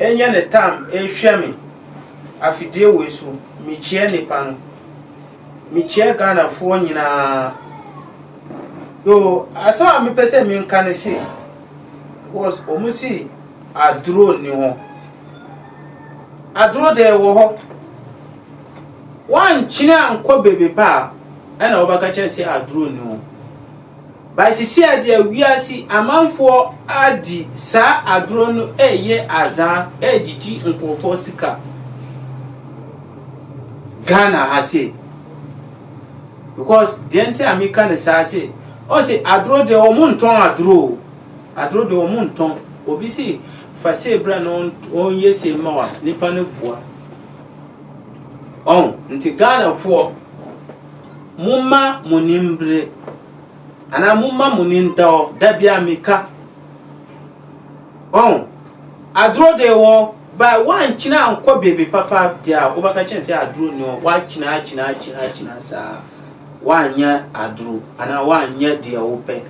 Enya ne tam ehwɛ me afidie wei so mekyia nipa no mekyia Ghana foɔ nyinaa yoo asɛm a mepɛ sɛ menka ne se because ɔmo si aduro ni hɔ aduro deɛ wɔ hɔ wankyene ankɔ beebi pa a ɛna wɔbɛka kyerɛ sɛ aduro ni hɔ By sisi a deɛ wiase amanfoɔ adi saa adorɔ no ɛyɛ azaa ɛgyigyi nkorɔfoɔ sika Ghana ha sei because deɛ nti a meka no saa se ɔse adorɔ deɛ wɔn ntɔn adorɔ o adorɔ deɛ wɔn ntɔn obi se fa sei bra na ɔnyɛ sei ma wa nipa no bua ɔn nti Ghanafoɔ mo ma mo nimbre Anaa momma mo ni nda hɔ da bi a mika. Ɔn, aduro de wɔ hɔ, but woankyina ankɔ baabi papa deɛ a, wobɛka kyerɛ sɛ aduro nni hɔ. Woakyina akyina akyina akyina saa, woanyɛ aduro anaa woanyɛ deɛ wopɛ.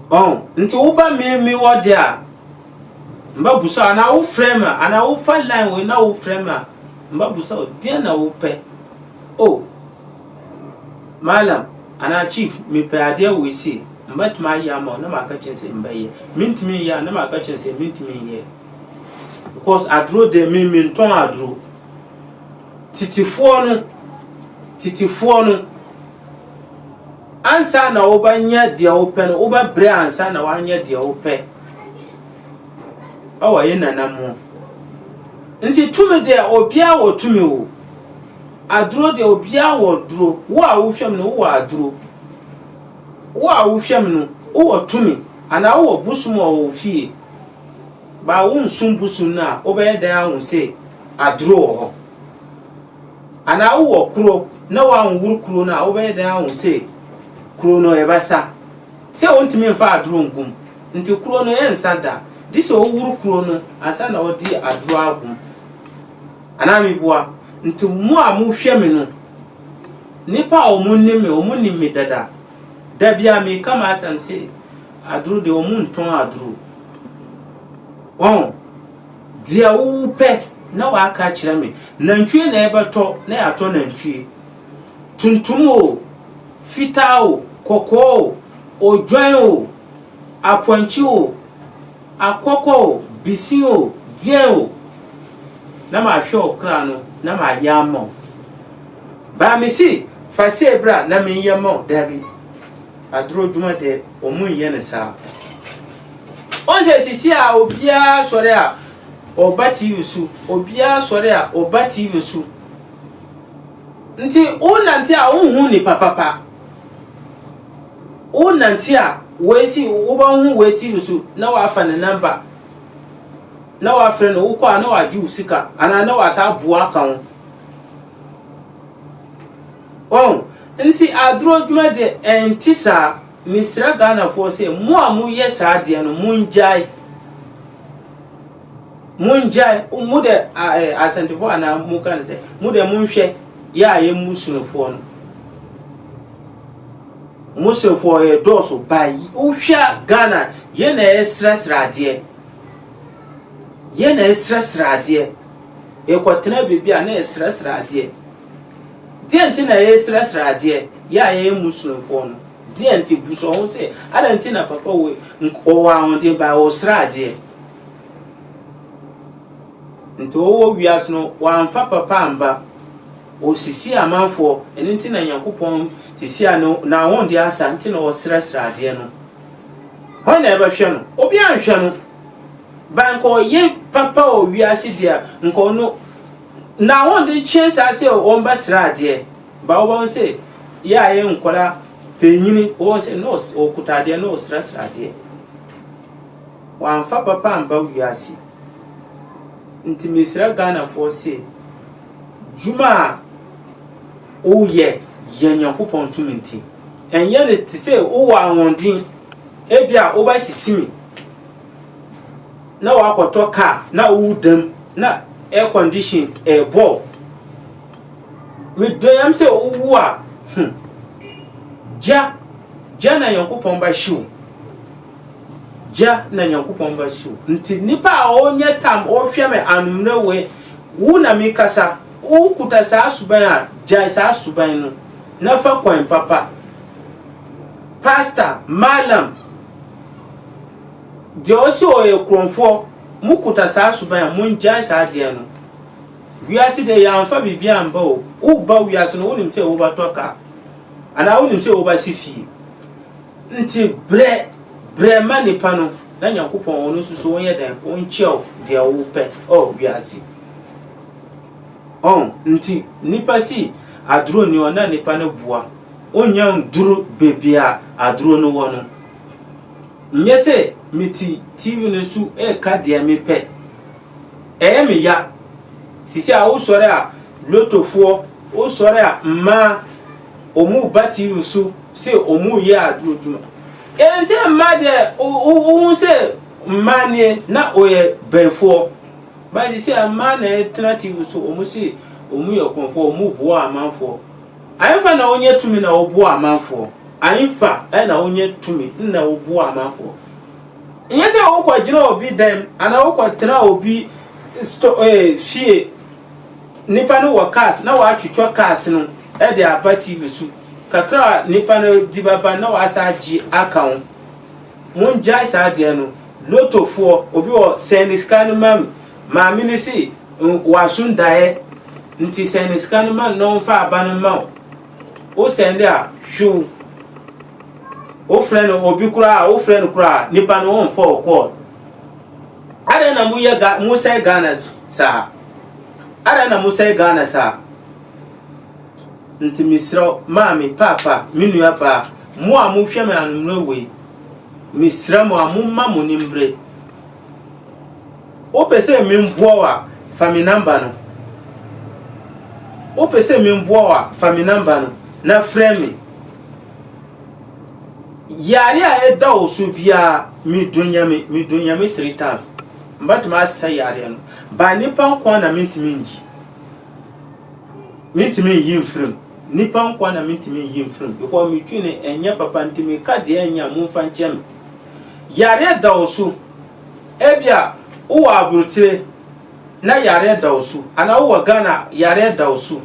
Ɔn, nti woba me me hɔ deɛ a, mbɛbusa anaa wofrɛ me a, anaa wofa line wei na wofrɛ me a, mbɛbusa deɛ na wopɛ. Oh. Mallam anaa Chief, mepɛ adeɛ wei sei, mɛtumi ayɛ ama wo? Na maka kyerɛ no sɛ mɛyɛ. Mentumi nyɛ a? Na maka kyerɛ no sɛ mentumi nyɛ. Because aduro deɛ me mentɔn aduro. Titifoɔ no, titifoɔ no, ansa na wobɛnyɛ deɛ wopɛ no, wobɛbrɛ ansa na woanyɛ deɛ wopɛ. Ɛwɔ yɛ nananom. Nti tumi deɛ obiara wɔ tumi o. Aduro deɛ obiara wɔ duro. Wo a wohwɛ me no, wowɔ aduro. Wo a wohwɛ me no, wowɔ tumi anaa wowɔ bosom wɔ wo fie. Baa wonsom bosom no a, wobɛyɛ dɛn ahu sɛ aduro wɔ hɔ? Anaa wowɔ kuro na woanworo kuro no a, wobɛyɛ dɛn ahu sɛ kuro no ɛbɛsa? Sɛ wontumi mfa aduro ngum nti kuro no ɛnsa da. Gye sɛ woworo kuro no ansa na wode aduro agum. Anaa mibua, Nti mo a mohwɛ me no, nnipa a wɔnim me, wɔnim me dada. Da biara meka m'asɛm se, Aduro deɛ wɔntɔn aduro. Wahu? Deɛ wopɛ na woaka akyerɛ me. Nantwie na yɛbɛtɔ na yɛatɔ nantwie. Tuntum o, fitaa o, kɔkɔɔ o, odwan o, apɔnkye o. Akɔkɔ o, bisin o, deɛn o. Na mahwɛ wo kora no na mayɛ ama wo. Baa me se fa sei bra na menyɛ ma wo, dabi. Aduro dwuma deɛ wɔn nyɛ no saa. Wɔn sɛ sisi a obiara sɔre a ɔba TV so, obiara sɔre a ɔba TV so. Nti wo nante a wo nhu nipa papa. Wonante a, woesi wobɔn ho wɔ etsi no so na wɔafa ne number na wɔafrɛ no, wokɔ a na ɔagye wo sika anaa na ɔasan aboa ka ho. Oho, ntsi adorɔdwuma dze nntse saa. Meserɛ Ghanafoɔ sɛ mo a moyɛ saa adeɛ no mongyae. Mongyae, mo dɛ asɛntefo anaa monka no sɛ, mo dɛ monhwɛ yɛ a yɛ mu sonofoɔ no. Mo sonofoɔ yɛ dɔɔso ba yi. Wohwɛ a Ghana yɛ na yɛsrɛsrɛ adeɛ. Yɛ na yɛsrɛsrɛ adeɛ. Yɛkɔtena baabi a na yɛsrɛsrɛ adeɛ. Deɛ nti na yɛsrɛsrɛ adeɛ yɛ a yɛyɛ mu sonofoɔ no. Deɛ nti busa wo ho sɛ, adɛn nti na papa wei ɔwɔ ahoɔden ba ɔsrɛ adeɛ. Nti ɔwɔ wiase no wɔamfa papa amba. Osisiee amanfoɔ, ɛno nti na Nyankopɔn sisiaa no n'ahondeɛ asa nti na ɔsrɛsrɛ adeɛ no. Hwan na ɛbɛhwɛ no? Obiara nhwɛ no. Ba nka ɔyɛ papa wɔ wiase deɛ a, nka ɔno n'ahonde kyɛn saa sɛ ɔmbɛsrɛ adeɛ. Ba wobɛhu sɛ yɛ a yɛ nkwadaa panyini, wobɛhu sɛ na ɔkuta adeɛ na ɔsrɛsrɛ adeɛ. Wamfa papa amba wiase. Ntsi mesera Ghanafoɔ se, dwuma a woyɛ yɛ Nyankopɔn tum ntsi, nnyɛ no tse se wowɔ ahoɔdzen, ebi a woba Sisimi na wakɔtɔ kaa na woda mu na air condition rebɔ wo. Medɔ Nyame sɛ wowu a, hmm, gya, gya na Nyankopɔn ba hye wo. gya na Nyankopɔn mba su. Ntsi nyimpa a ɔnnyɛ tam ɔrehwɛ me anomerɛwee, wo na merekasa, wokuta saa suban a, gyae saa suban no na fa kwan papa. Pastor, Mallam, deɛ ɔse ɔyɛ korɔmfoɔ, mokuta saa suban a, mongyae saa adeɛ no. Wiase deɛ yɛamfa biribiara amba o, woreba wiase no wonim sɛ wobɛtɔ car anaa wonim sɛ wobɛse fie. Nti brɛ brɛ ma nipa no na Nyankopɔn ɔno nso so ɔnyɛ dɛn ɔnkyɛ wo deɛ wo pɛ ɛwɔ wiase ɔho nti nipa si aduro ni hɔ na nipa no boa ɔnya nduru bebia aduro no wɔ no nyɛ sɛ me ti TV no so ɛka deɛ me pɛ ɛyɛ me ya sisi a wo sɔre a lotofoɔ wo sɔre a mmaa wɔn batiri so sɛ wɔreyɛ adwuma. Enti mmaa deɛ wohu sɛ mmaa nie na wɔyɛ bɛnfoɔ. Ba sisi a mmaa na ɛtena TV so wɔn se wɔn yɛ kɔnfoɔ wɔn boa amanfoɔ. Ayemfa na wɔnyɛ tumi na wɔboa amanfoɔ. Ayemfa na wɔnyɛ tumi na wɔboa amanfoɔ. Nyɛ sɛ wokɔ gyina obi dɛm anaa wokɔ tena obi sto ɛɛ fie. Nnipa no wɔ cars na wɔatwitwa cars no de aba TV so. Kakra a nnipa no de bɛba no na wɔasan agye aka ho. Mongyae saa adeɛ no. Lotofoɔ, obi wɔ sɛn ne sika no ma me. Maame no se w'aso ndaeɛ nti sɛn ne sika no ma no na ɔmfa aba no mma wo. Wo sɛnde a, hwiw. Wofrɛ no obi koraa a, wofrɛ no koraa a, nnipa no wɔmfa wo call. Adɛn na moyɛ Ga mosɛe Ghana saa? Adɛn na mosɛe Ghana saa? Nti mesrɛ wo, maame, papa, me nua baa, mo a mohwɛ me anommerɛ wei, mesrɛ mo a momma mo ni mbre. Wopɛ sɛ memboa wo a, fa me namba no. Wopɛ sɛ memboa wo a, fa me namba no na frɛ me. Yare a ɛda wo so biara, medɔ Nyame, medɔ Nyame three times. Mɛtumi asɛ yareɛ no. Ba nipa nkoa na mentumi ngyi. Mentumi nyi mfirim. Nipa nkoa na mentumi nyi mfirim. Because me twi no ɛnyɛ papa nti meka deɛ ɛnyɛ a momfa nkyɛ me. Yareɛ da wo so. Ebia wowɔ aburokyire na yareɛ da wo so. Anaa wowɔ Ghana yareɛ da wo so.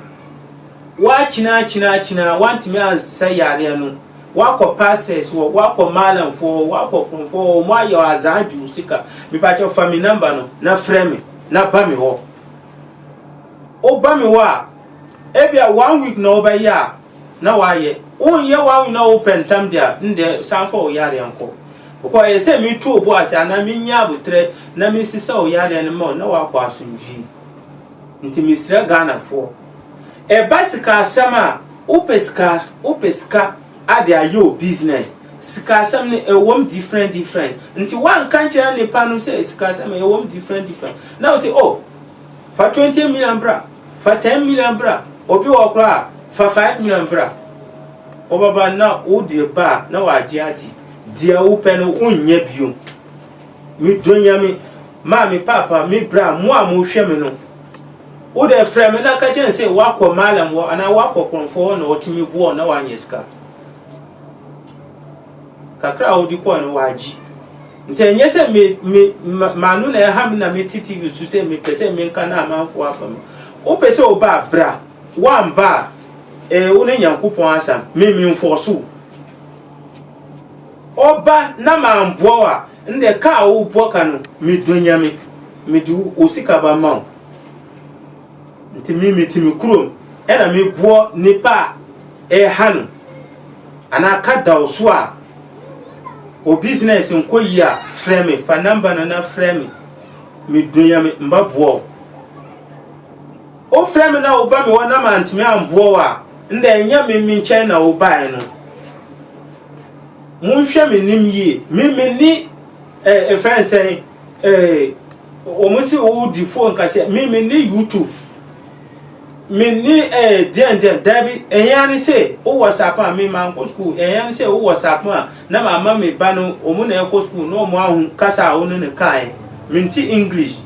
Woakyena akyena akyena a woantumi ansa yareɛ no, woakɔ pastors hɔ, woakɔ maalamfoɔ hɔ, woakɔ kromfoɔ hɔ, wɔn ayɛ azaa gye wo sika. Mepakyɛ fa me number no na frɛ me na ba me hɔ. Woba me hɔ a, ebia one week na wobɛyɛ a na woayɛ. Wonyɛ one week na wopɛ ntam de a, ndɛ san fa wo yareɛ nkɔ. Because ɛyɛ sɛ metu wo bo ase anaa menya abotrɛ na mesesa wo yareɛ no ma wo na woakɔ asomdwie. Nti mesrɛ Ghanafoɔ. Ɛba sika asɛm a, wopɛ sika, wopɛ sika ade ayɛ wo business. Sika asɛm no ɛwɔ mu different different. Nti woanka nkyerɛ nnipa no sɛ sika asɛm no ɛwɔ mu different different. Na wo sɛ oh, fa twenty million bra, fa ten million bra, obi wɔ koraa a, fa five million bra. Wɔbɛba na wode ba a na wɔagye ate. Deɛ wopɛ no wonnya bio. Medɔ Nyame, maa me paapa, me bra, mo a mohwɛ me no. Wo dɛ frɛ me na ka kyerɛ me sɛ woakɔ Malam hɔ anaa woakɔ Krɔmfoɔ hɔ na wɔtumi boɔ wo na woanyɛ sika. Kakra a wode kɔe no wɔagye. Nti ɛnyɛ sɛ me me m'ano na ɛha me na mete TV so sɛ mepɛ sɛ menka na amanfoɔ afa mu. Wopɛ sɛ woba a bra, woamba a ɛɛ eh, wo ne Nyankopɔn asɛm, me memfɔɔso wo. Ɔba na mamboa wo a, Ndɛ ka a wo bɔ ka no me dɔ Nyame me de wo sika ba ma wo nti me me te me kurom ɛna me boɔ nipa a ɛha no anaa ka da wo so a wɔ business nkɔ yie a frɛ me fa number no na frɛ me me dɔ Nyame mba boɔ wo wo frɛ me na wo ba me hɔ na mantumi amboɔ wo a ndɛ ɛnyɛ me me nkyɛn na wo baɛ no Monhwɛ me nim yie me me ni eh efrɛ no sɛn eh wɔn se wo di fo nka sɛ me me ni YouTube me ni eh deɛn deɛn daabi ɛhia ne sɛ wo WhatsApp a me ma nkɔ school ɛhia ne sɛ wo WhatsApp a na ma ama me ba no wɔn na ɛkɔ school na wɔn ahu kasa a wo ne no kae mente English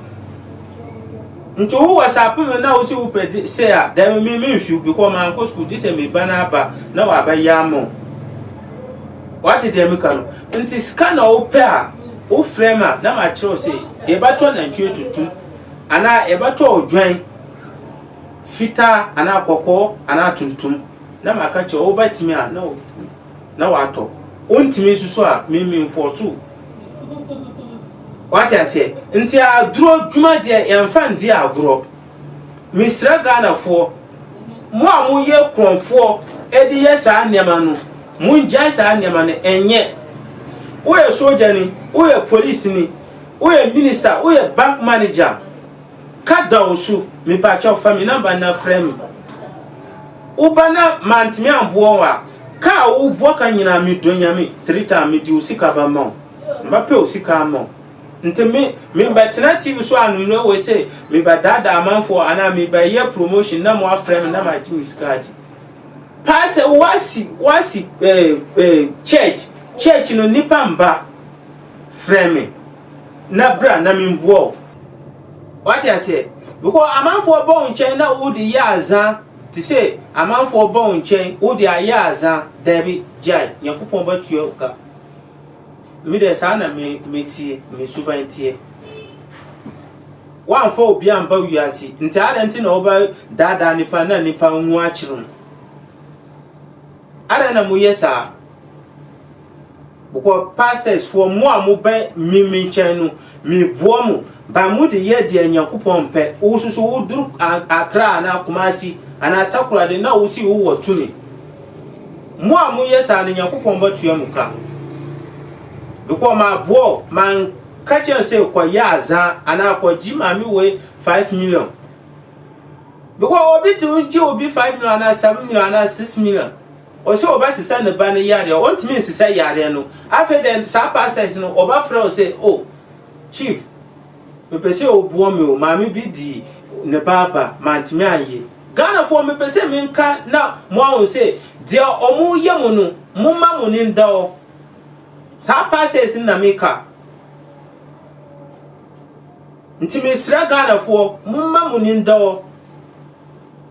nti wo wɔ sɛ apo me na wo si wo pɛ sɛ a dɛm me me nfiw bikɔ ma nkɔ sukuu gye sɛ me ba na aba na waba yɛ ama wo wate deɛ meka no nti sika na wo pɛ a wo frɛ ma na ma kyerɛw sɛ yɛbɛtɔ nantwie tuntum anaa yɛbɛtɔ odwan fitaa anaa kɔkɔɔ anaa tuntum na ma ka kyerɛ wo bɛtumi a na wo na watɔ. Wontumi nsusu a me me mfɔso o. Wate aseɛ? Nti aduro dwumadeɛ yɛmfa ndi agorɔ. Mesrɛ Ghanafoɔ, mo a moyɛ korɔnfoɔ de yɛ saa nneɛma no, mongyae saa nneɛma no nyɛ. Woyɛ sogyani, woyɛ polisini, woyɛ minista, woyɛ bank manager, Ka da wo so, mepakyɛw fa me number na frɛ me. Wo ba na mantumi amboa wo a, ka a wo boa ka nyinaa me dɔ Nyame three time me de osika ba ma wo. Mba pɛ osika ama wo. Nti me, me ba tena TV so anummerɛ wei se me ba daadaa amanfoɔ anaa me ba yɛ promotion na mo afrɛ me na magye me sika agye. Paa sɛ wo asi, wo asi eh, eh, church, church no nipa mba frɛ me. na bra na memboa wo. Wate aseɛ? Because amanfoɔ ba wo nkyɛn na wode yɛ aza te sɛ amanfoɔ ba wo nkyɛn wode ayɛ aza daabi gyae Nyankopɔn bɛtua wo ka. Me deɛ saa na me me teɛ me suban teɛ. Woamfa obi amba wiase nti adɛn nti na wobɛ daadaa nipa na nipa nwu akyere wo? Adɛn na moyɛ saa? Bkɔ pastors foɔ mo a mo bɛ me me nkyɛn no me boa mo but mo de yɛ deɛ nyankopɔn mpɛ wo soso wo duru akra anaa kumasi anaa takoradi na wo si wo wɔ tumi mo a mo yɛ saa no nyankopɔn bɛ tua mo ka bkɔ ma boa o ma nka kyɛn sɛ kɔ yɛ azan anaa kɔ gyi maame wei 5 million bkɔ obi tumi gyi obi 5 million anaa 7 million anaa 6 million Ɔse ɔbɛsesa ne ba no yareɛ a ɔntumi nsesa yareɛ no afei dɛ saa pastor yi no ɔba frɛ wo sɛ oh chief mepɛ sɛ ɔboɔ me o maame bi di ne ba aba mantumi anyɛ Ghana foɔ mepɛ sɛ menka na mo ahun sɛ deɛ ɔmo yɛ mo no mo ma mo ne nda hɔ saa pastor yi no na meka nti mesrɛ Ghana foɔ mo ma mo ne nda hɔ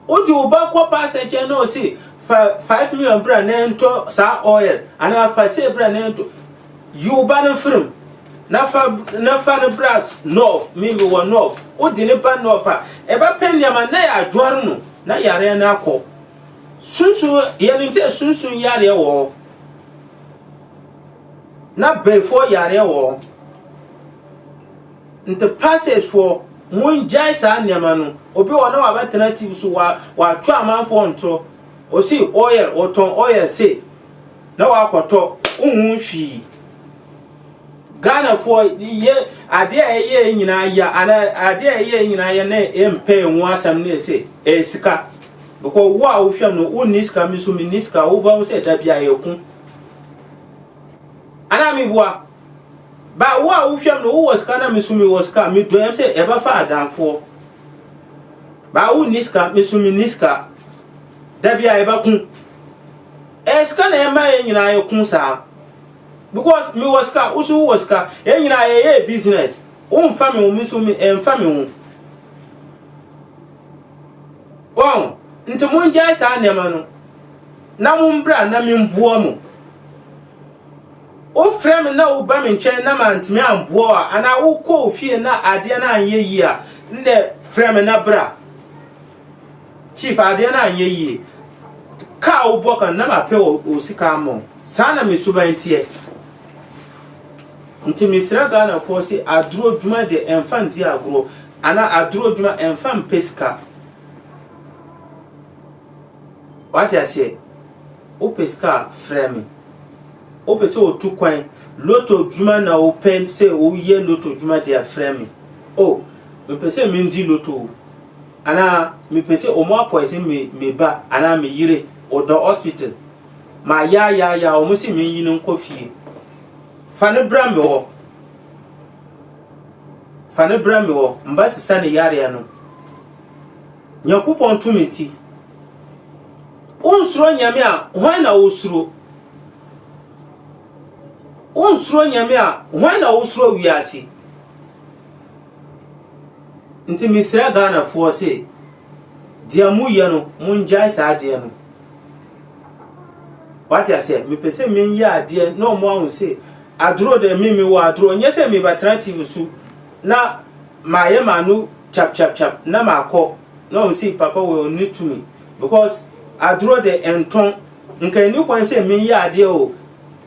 Wode wo ba kɔ pastor nkyɛn na ɔse fa five million bra na ɛntɔ saa oil anaa fa sei bra na ɛntɔ yi wo ba no mfirim na fa na fa no bra north me me wɔ north wode ne ba north a ɛbɛpɛ nneɛma na yɛadware no na yareɛ no akɔ sunsun yɛnim sɛ sunsun yareɛ wɔ hɔ na bɛfoɔ yareɛ wɔ hɔ Nti pastors foɔ mo ngyae saa nneɛma no, obi wɔ hɔ na wabɛtena TV so wa watwe amanfoɔ ntorɔ, ɔse oil ɔtɔn oil se na wakɔtɔ, wonhu hwii. Ghana foɔ yɛ adeɛ a ɛyɛ yɛ nyinaa ya ana adeɛ a ɛyɛ yɛ nyinaa yɛ na ɛmpɛ yɛ ho asɛm na ɛse ɛyɛ sika. Bɛkɔ wo a wohwɛ no wo nni sika me nso me nni sika wobɛhu sɛ da bi a yɛko. Ana meboa. But wo a wo hwɛm no wo wɔ sika na me so me wɔ sika me dɔ yɛm sɛ yɛbɛ fa adanfoɔ But wo nni sika me so me nni sika da bi a yɛbɛ ko Ɛyɛ sika na ɛma yɛn nyinaa yɛ ko saa Because me wɔ sika wo so wo wɔ sika yɛn nyinaa yɛ yɛ business Wo nfa me ho me so me ɛnfa me ho Wɔn nti mo ngyae saa nneɛma no na mo mbra na me mboa mo. Wofrɛ me na woba me nkyɛn na manntumi ammboa wo a, anaa wokɔ wo fie na adeɛ no annyɛ yie a, ndɛ frɛ me na bra. Chief, adeɛ no annyɛ yie. Ka a wobɔ ka no, na mapɛ wo wo sika ama wo. Saa na me suban teɛ. Nti mesrɛ Ghanafoɔ se aduro dwuma deɛ ɛmfa nndi agorɔ, anaa aduro dwuma ɛmfa mpɛ sika. Wate aseɛ? Wopɛ sika a, frɛ me. Wopɛ sɛ wotu kwan, lotto dwuma na wopɛ sɛ woyɛ lotto dwuma deɛ a, frɛ me. Oh, mepɛ sɛ mendi lotto o. Anaa mepɛ sɛ wɔn apɔɛsen me, me ba anaa me yere, ɔda hospital. Mayaayaaya, wɔn se menyi no nkɔ fie. Fa no bra me hɔ. Fa no bra me hɔ. Mba sesa ne yareɛ no. Nyankopɔn tumi nti, wonsuro nyame a hwan na wosuro? Wonsuro nyame a hwan na wosuro wiase? Nti mesrɛ Ghanafoɔ se, deɛ moyɛ no mongyae saa adeɛ no. Wate aseɛ? Mepɛ sɛ menyɛ adeɛ na ɔmo ahu se, aduro deɛ me mewɔ aduro, nyɛ sɛ mebɛtena TV so na Mayɛ m'ano kyapkyapkyap na makɔ na wɔn sei papa wɔ ne tumi because adorɔ de ɛntɔn nka ɛni kwan sɛ meyɛ adeɛ o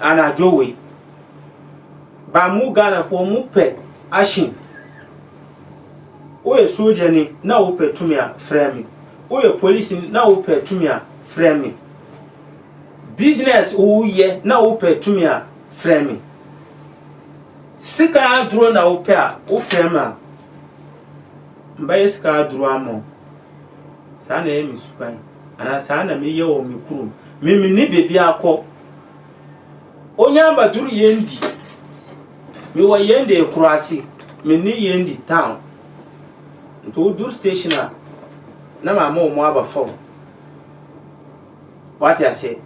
anadwo wei ba mo Ghanafoɔ mo pɛ action woyɛ soldier ni na wopɛ tumi a frɛ me woyɛ police ni na wopɛ tumi a frɛ me business woyɛ na wopɛ tumi a frɛ me Sika aduro na wo pɛ a wo frɛ me a mɛbɛ yɛ sika aduro ama wo saa na ɛyɛ me suban anaa saa na me yɛ wɔ me kurom me me ni bebi akɔ onya ama duru yɛn di me wɔ yɛn de ekuro ase me ni yɛn di town nti wo duru station a na ma ama wɔn aba fam Wate aseɛ?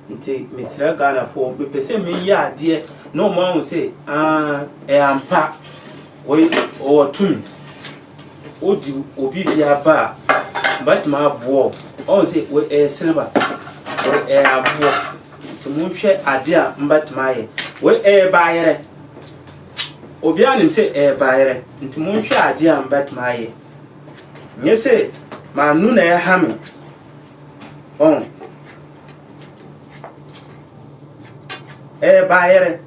Nti mesrɛ Ghanafoɔ, mepɛ sɛ meyɛ adeɛ na wɔn ahu sɛ aah, ɛyɛ ampa, wei ɔwɔ tumi. Wodi obi bi aba a, bɛtumi aboɔ. Ɔhu sɛ wei ɛyɛ silver, wei ɛyɛ aboɔ. Nti monhwɛ adeɛ a mbɛtumi ayɛ. Wei ɛyɛ baayerɛ. Obiara nim sɛ ɛyɛ baayerɛ. Nti monhwɛ adeɛ a mbɛtumi ayɛ. Nyɛ sɛ m'ano na ɛha me. ɔn ɛyɛ baayɛrɛ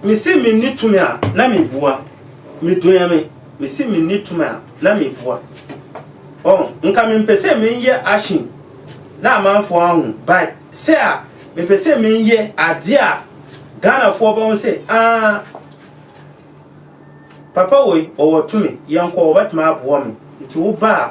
mesi menni tumi a na mebua meduan me mesi menni tumi a na mebua ɔn nka mempɛ sɛ menyɛ ahyen na amanfoɔ ahu but sɛ a mepɛ sɛ menyɛ adeɛ a ghanafoɔ bɛho sɛ aa papa wei ɔwɔ tumi yɛnkɔ wɔbɛtumi aboa me nti wo baa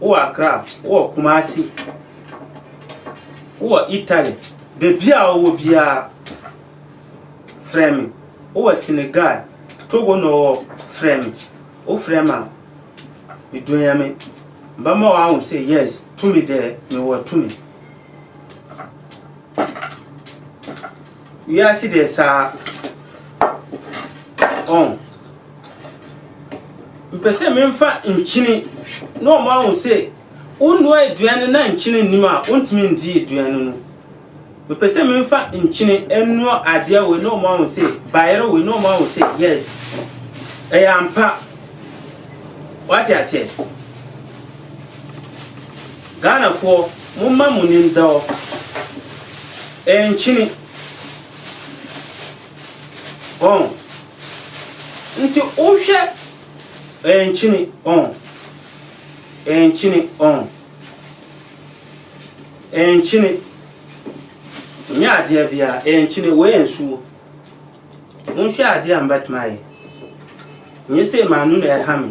wowɔ Accra, wowɔ Kumasi, wowɔ Italy, baabi a wowɔ biara, frɛ me. Wowɔ Senegal, Togo na ɔwɔ, frɛ me. Wofrɛ me a, medu Nyame. Mɛma wɔahu sɛ yes, tumi deɛ mewɔ tumi. Wiase deɛ saa. Ɔn. Mepɛ sɛ memfa nkyene na wɔn ahụ sɛ wonnoa aduan no na nkyene nnim a wontumi ndi aduan no no. Mepɛ sɛ memfa nkyene nnoa adeɛ wei na wɔn ahụ sɛ bayerɛ wei na wɔn ahụ sɛ yes ɛyɛ ampa. Wate aseɛ? Ghanafoɔ mo mma mo nim dɔ ɛyɛ nkyene. Ɔn. Nti wohwɛ ɛnkyene ɔn. Ɛnkyene ɔn. Ɛnkyene. Nyɛ adeɛ biara ɛnkyene wei yɛ nsuo. Wonhwɛ adeɛ a mbɛtumi ayɛ. Nyɛ sei maa no na ɛha me.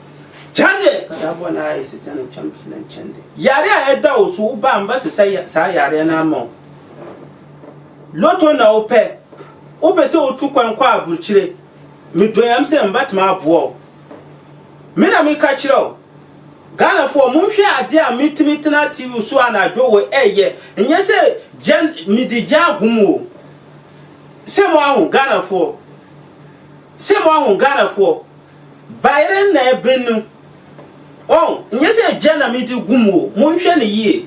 Kyɛnde! Kadabɔ no ara yɛ sesɛ no kyɛn pii na Kyɛnde. Yare a ɛda wo so, wo ba a mbɛsesɛ saa yareɛ no ama wo. Lotto na wo pɛ? Wo pɛ sɛ wo tu kwan kɔ aburukyire? Me dɔ yam sɛ mbɛtumi aboa wo. Me na me ka kyerɛ wo. Ghanafoɔ, mo nhwɛ adeɛ a me tumi tena TV so anadwo wɔ ɛyɛ. Nyɛ sɛ gya, me de gya agu mu o. Se mo ahu, Ghanafoɔ? Se mo ahu, Ghanafoɔ? Bayerɛ na ɛben no wɔn nyɛ sɛ gya na me de gu mu o monhwɛ no yie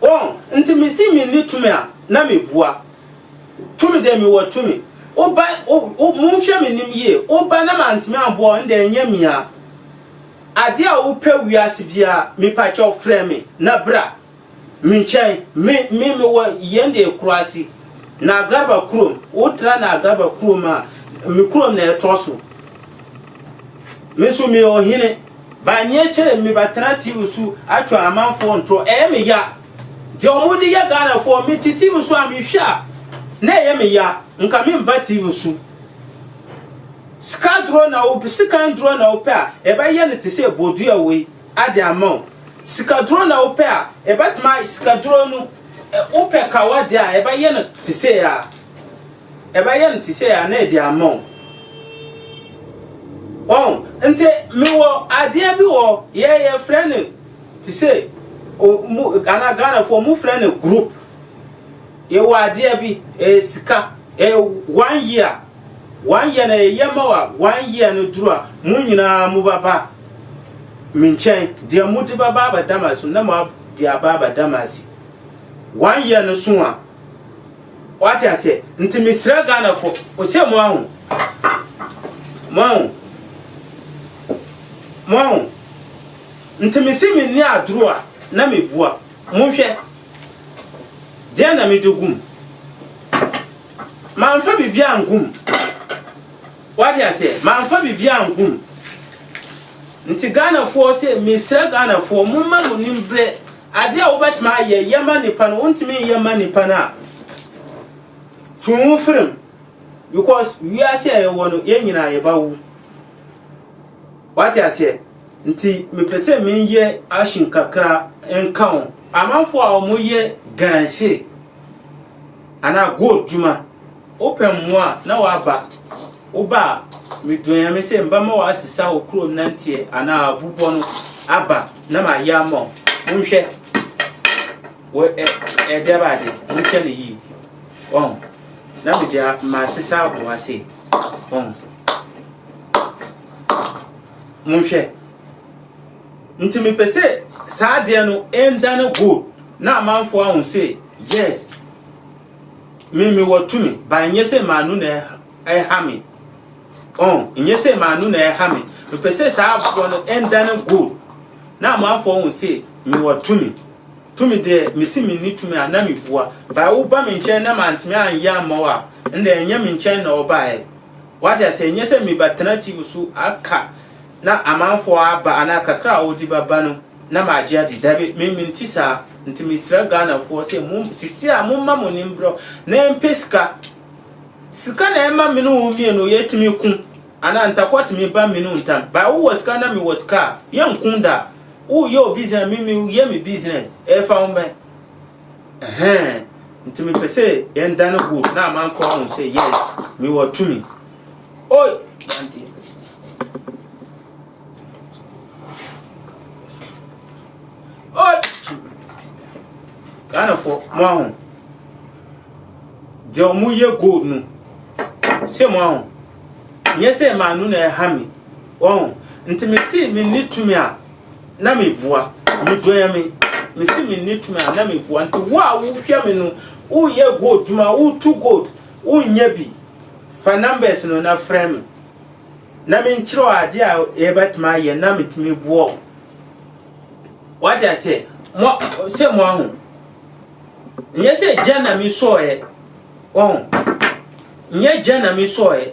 wɔn nti me se me nni tumi a na me bua tumi deɛ me wɔ tumi wo ba wo wo monhwɛ me nim yie wo ba na mantumi anboa wo ndɛ ɛnyɛ me a adeɛ a wo pɛ wiase biara mepakyɛw frɛ me na bra. Me nkyɛn, me, me, me wɔ yɛn deɛ Kurasi, Naagarba kurom, wo tra Naagarba kurom a, me kurom na ɛtɔ so. Me nso me yɛ ɔhene, ba nyɛ kyɛɛ me ba tena TV so atwa amanfoɔ ntorɔ, ɛyɛ me ya. Deɛ wɔn de yɛ Ghanafoɔ, me te TV so a me hwɛ a, na ɛyɛ me ya, nka me mba TV so. Sika dorɔ na wo, sekan dorɔ na wo pɛ a, yɛbɛ yɛ no te sɛ bodua wei. ade ama wo. Sikaduro na wopɛ a, yɛbɛtumi ayɛ sikaduro no, wopɛ kawa deɛ a, yɛbɛyɛ no te sei ara, yɛbɛyɛ no te sei ara na yɛde ama wo. Wɔn, nti mewɔ adeɛ bi wɔ yɛ yɛfrɛ no te sei, ɔmo, ana Ghanafoɔ, ɔmo frɛ no group. Yɛwɔ adeɛ bi, ɛyɛ sika, ɛyɛ one year, one year na yɛyɛ ma wa, one year no duru a, mo nyinaa mo ba ba me nkyɛn, deɛ mo de ba ba abɛda ma so na mo ab de aba abɛda ma si, one year no so a, wate aseɛ, nti me srɛ Ghana fo, o sɛ mo ahu, mo ahu, mo ahu, nti me se me nni aduro a na me bua, mo nhwɛ. Deɛn na mede gu mu? Mamfa biribiara angu mu. Wate aseɛ? Mamfa biribiara angu mu. Nti Ghanafoɔ se, mesrɛ Ghanafoɔ, momma mo nim berɛ. Adeɛ a wobɛtumi ayɛ, yɛ ma nnipa no, wontumi nyɛ mma nnipa no a, twe wo ho firi mu. Because wiase a yɛwɔ no, yɛn nyinaa yɛbɛwo. Wate aseɛ? Nti mepɛ sɛ meyɛ action kakra nka wo. Amanfoɔ a wɔyɛ galamsey anaa gold dwuma, wopɛ mmoa a na w'aba, woba a medua Nyame sɛ mbɛma w'asesa wo kurom nanteɛ anaa abubɔ no aba na mayɛ ama wo. Monhwɛ wɔ ɛ ɛde aba ade, monhwɛ no yie. Wɔn, na mede a masesa aboa sei. Wɔn. Monhwɛ. Nti mepɛ sɛ saa adeɛ no ɛndane gold na amanfoɔ ahu sɛ yes me mewɔ tumi ba ɛnyɛ sɛ maanu na ɛha me ɔn ɛnyɛ sɛ maanu na ɛha me mepɛ sɛ saa aboɔ no ɛndane gold na amanfoɔ ahu sɛ mewɔ tumi tumi deɛ mesi menni tumi a na mebua ba woba me nkyɛn na mantumi anyɛ amma wo a ɛnna ɛnyɛ me nkyɛn na ɔbaeɛ Wate aseɛ, nyɛ sɛ mebɛtena tv so aka na amanfoɔ aba anaa kakra a wɔde bɛba no na magye adi, dabi, me mente saa, nti mesrɛ Ghanafoɔ sɛ mo sisi a momma mo ani mbrɛ na ɛmpɛ sika, sika na ɛma me ne wo mmienu yɛtumi ko anaa ntakwa tumi ba me ne wo ntam, but wowɔ sika na mewɔ sika a yɛnko da, woyɛ wo business me meyɛ me business, ɛfa wo bɛn? Ɛhɛn, nti mepɛ sɛ yɛn da no good na amanfo ahun sɛ yes, me wɔ tumi. Oi, Dante. Oi, Ghana fo, mo ahun. Deɛ ɔmo yɛ gold no, se mo ahun. Nyɛ sɛ maa no na ɛha me, wɔn. Nti me se me ni tumi a, na meboa, medua me, mesi menni tumi a na meboa. Nti wo a wohwɛ me no, woyɛ gold dwuma, wotu gold, wonnya bi, fa numbers no na frɛ me. Na menkyerɛ wo adeɛ a yɛbɛtumi ayɛ na metumi boa wo. Wate aseɛ? Mo sɛ mo ahu. Nyɛ sɛ gya na mesɔɔɛ. Ɔho. Nyɛ gya na mesɔɔɛ.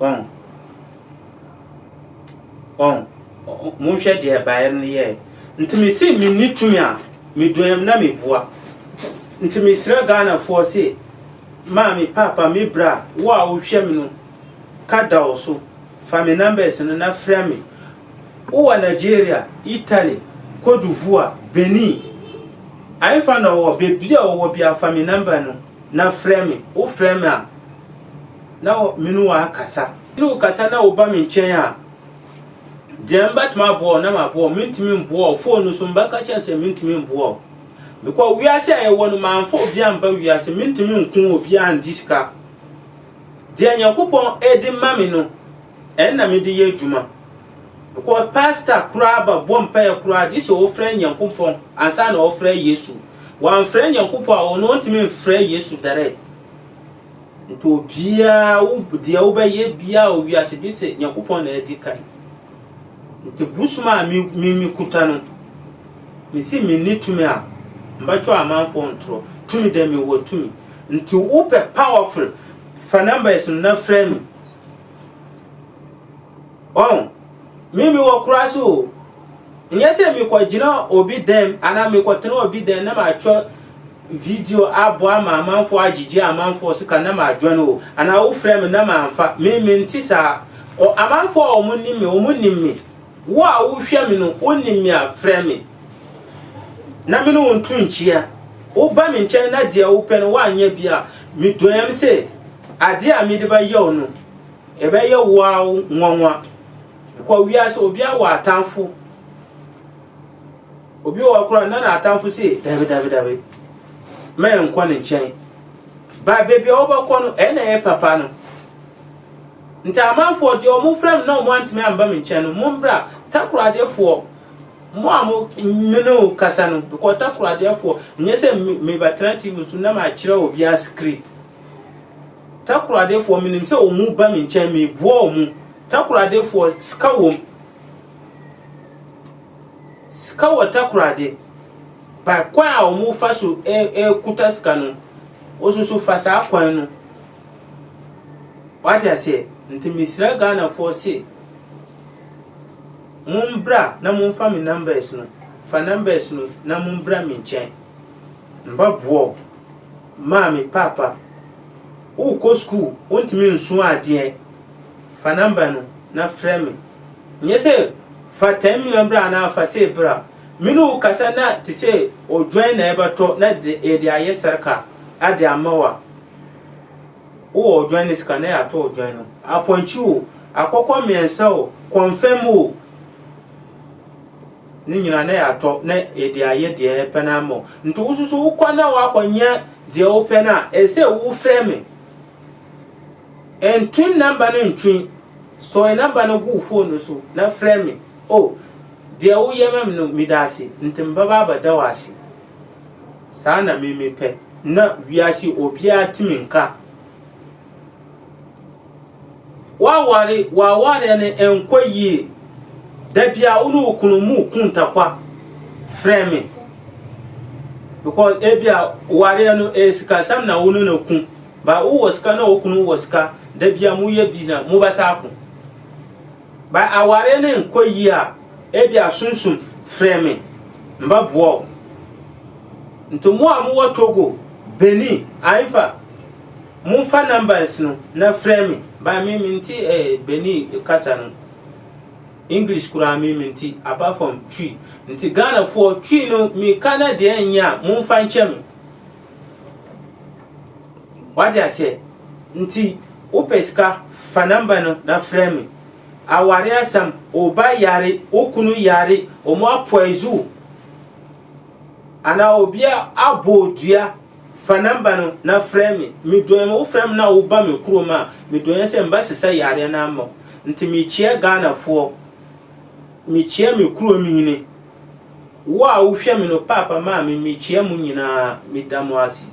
Wɔn. Wɔn. Monhwɛ deɛ ɛbaeɛ no yɛɛ. Nti mese menni tumi a, meduam na mebua. Nti mesrɛ Ghanafoɔ se, maame, papa, me bra, wo a wohwɛ me no, ka da wo so, fa me numbers no na frɛ me. Wowɔ Nigeria, Italy, Cote d'Ivoire, Benin, ahefa na ɔwɔ, baabi a ɔwɔ biara fa me number no. Na frɛ me. Wofrɛ me a, na me ne wo akasa. Me ne wo kasa na woba me nkyɛn a, deɛ mbɛtumi aboa wo na maboa wo. Mentumi mboa wo. Fon no so mbɛka kyerɛ no sɛ mentumi mboa wo. Mekɔ wiase a yɛwɔ no, mamfa obi amba wiase. Mentumi nko obiara angye sika. Deɛ Nyankopɔn de ma me no, ɛno na mede yɛ adwuma. Kɔ pastor koraa ba bɔ mpaeɛ koraa gye sɛ ɔfrɛ Nyankopɔn ansa na ɔfrɛ Yesu. Wamfrɛ Nyankopɔn a ɔno ɔntumi mfrɛ Yesu direct. Nti obiara wo deɛ wobɛyɛ biara wɔ wiase gye sɛ Nyankopɔn na adi kan. Nti bosom a me me me kuta no mesi menni tumi a mbɛtwerɛ amanfoɔ ntorɔ. Tumi deɛ mewɔ tumi. Nti wopɛ powerful fa numbers no na frɛ me. Ɔn, me mewɔ kura so o. Nyɛ sɛ mekɔgyina obi dɛm anaa mekɔtena obi dɛm na matwa video abɔ ama amanfoɔ agyegye amanfoɔ sika na madwɛn o anaa wofrɛ me na mamfa me mente saa o amanfoɔ a wɔn nim me wɔn nim me wo a wohwɛ me no wonim me a frɛ me na me ne wo nto nkyia woba me nkyɛn na deɛ wopɛ no woanyɛ bi a medɔyam sɛ Ade a mede bɛyɛ wo no, ɛbɛyɛ wo ara wo nwanwa. Kɔ wiase, obiara wɔ atamfo. Obi wɔ hɔ koraa na n'atamfo se, Dabi, dabi, dabi, ma yɛnkɔ ne nkyɛn. Ba baabi a wobɛkɔ no, ɛyɛ na ɛyɛ papa no. Nti amanfoɔ deɛ ɔmo frɛ me na ɔmo antumi amba me nkyɛn no, mo mbra, takoradeɛfoɔ, mo a mo me ne wo kasa no, kɔ takoradeɛfoɔ, nyɛ sɛ mebɛtena TV so na makyerɛ obiara script. Takoradefoɔ, menim sɛ wɔn mu ba me nkyɛn, meboa wɔn mu. Takoradefoɔ, sika wom. Sika wɔ takorade. Ba kwan a wɔn fa so ɛkuta sika no, wososo fa saa kwan no. Wate aseɛ? Nti mesrɛ Ghanafoɔ se, mombra na momfa me numbers no, fa numbers no na mombra me nkyɛn. Mba boa wo. Maame, Paapa, worekɔ sukuu, wontumi nsua adeɛ? Fa nɔmba no na frɛ me. Nyɛ sɛ fa ten million bra anaa fa sei bra. Me ne wo kasa na te sɛ odwan na yɛbɛtɔ na yɛde ayɛ sarka ade ama wo a, wowɔ odwan no sika na yɛatɔ odwan no. Apɔnkye o, akɔkɔ mmiɛnsa o, kɔnfɛm o. Ne nyina na yɛatɔ na yɛde ayɛ deɛ yɛpɛ no ara ma wo. Nti wo so so wokɔ na woakɔnyɛ deɛ wopɛ no a, ɛsɛ sɛ wofrɛ me. Nto number no ntwe. Store number no gu wo phone no so na frɛ me. Oh, deɛ woyɛ ma me no, meda ase. Nti mebɛba abɛda wo ase. Saa na me mepɛ. Na wiase obiara te me nka. W'aware w'awareɛ no nkɔ yie. Da biara wo ne wo kunu mu ku ntakwa frɛ me. Because ebi a wareɛ no ɛyɛ sikasɛm na wo ne no ku. Ba wowɔ sika na wo kunu wɔ sika. Da biara mo yɛ business mo bɛsa ako. Ba awareɛ no nkɔ yie a ebi a sunsum frɛ me mba boa wo. Nti mo a mowɔ Togo, Benin, Haifa. Momfa numbers no na frɛ me. Ba me me nte eh Benin kasa no English koraa me me nte apart from Twi nti Ghana foɔ Twi no me ka na deɛ ɛnyɛ a momfa nkyɛ me wate aseɛ nti wo pɛ sika fa number no na frɛ me aware asɛm wo ba yare wo kunu yare wɔn apoizu anaa obi abɔ dua Fa number no na frɛ me. Medɔɛ me wo frɛ me na wo ba me kurom a medɔɛ sɛ mba sesa yareɛ no ama wo nti mekyia Ghana foɔ mekyia me kurom hene wo a wo hwɛ me no paapa maame mekyia mo nyinaa meda mo ase.